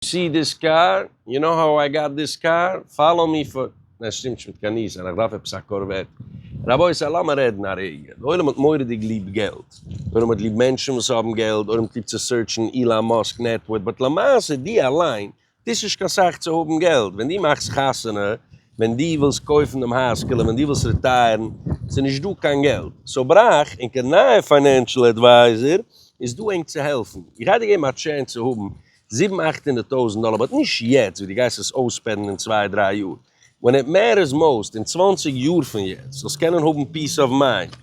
סי דיס קאר, יו נאו האו איי גאט דיס קאר, פאלאו מי פאר. נע ס'שטימט נישט מיט קיין ניס און איך דארף עפעס א קארוועט. רבותי לאמער רעדן א רגע, די עולם האט מוראדיג ליב געלט, די עולם האט ליב מענטשן וואס האבן געלט, די עולם קליבט צו סורטשן אילאן מאסק נעטווארט, באט למעשה די אליין טוסט נישט קיין סאך צו האבן געלט, ווען די מאכסט חתונה, ווען די ווילסט קויפן דעם הייזקעלע, ווען די ווילסט רעטייערן, ס'איז נישט דא קיין געלט, סאו בראך און קיין נייע פיינענשל עדווייזער איז דא ענק צו העלפן, איך גיי דיר געבן א טשענס צו האבן זיבן אכט הונדערט טויזענט דאלער באט נישט יעצט ווי די גייסט עס אויספענדן אין צוויי דריי יאר ווען איט מעטערס מאוסט אין צוואנציג יאר פון יעצט זאלסט קענען האבן פיס אוו מיינד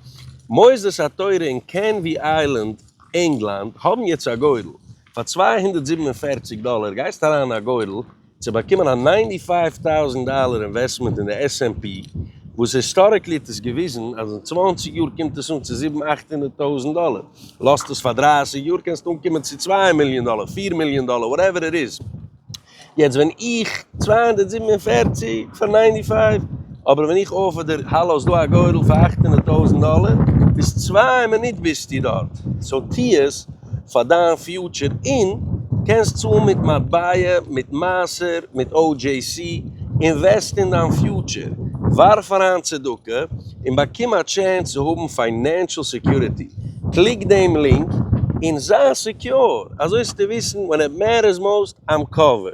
מוסדות התורה אין קענווי איילענד ענגלאנד האבן יעצט א גודל פאר צוויי הונדערט זיבן און פֿערציק דאלער גייסט אריין אין א גודל צו באקומען א ניינטי פייוו טאוזענט דאלער אינוועסטמענט אין די עס ענד פי, וואס היסטאריקלי האט עס געוויזן אז אין צוואַנציק יאר קומט עס אן צו זיבן אכט הונדערט טויזענט דאלער, לאז דאס פאר דרײַסיק יאר קענסטו אנקומען צו צוויי מיליאן דאלער, פֿיר מיליאן דאלער, וואטעווער איט איז, יעצט ווען איך צוויי הונדערט זיבן און פֿערציק פאר ניינטי פייוו, אבער ווען איך אפער דיר האלא איז דא א גורל פאר אכט הונדערט טויזענט דאלער, ביז צוויי מינוט ביזטו דארט, סאו טו עס, פאר דיין פיוטשער אין קענסט צאלן מיט מטבע מיט מעשר מיט OJC אינוועסט אין דיין פיוטשער ווארף אריין צדקה אין באקום א טשענס צו האבן פיינענשעל סעקיוריטי קליק דעם לינק אין זיי סעקיור אזוי זאלסטו וויסן ווען איט מעטערס מאוסט איים קאווערד.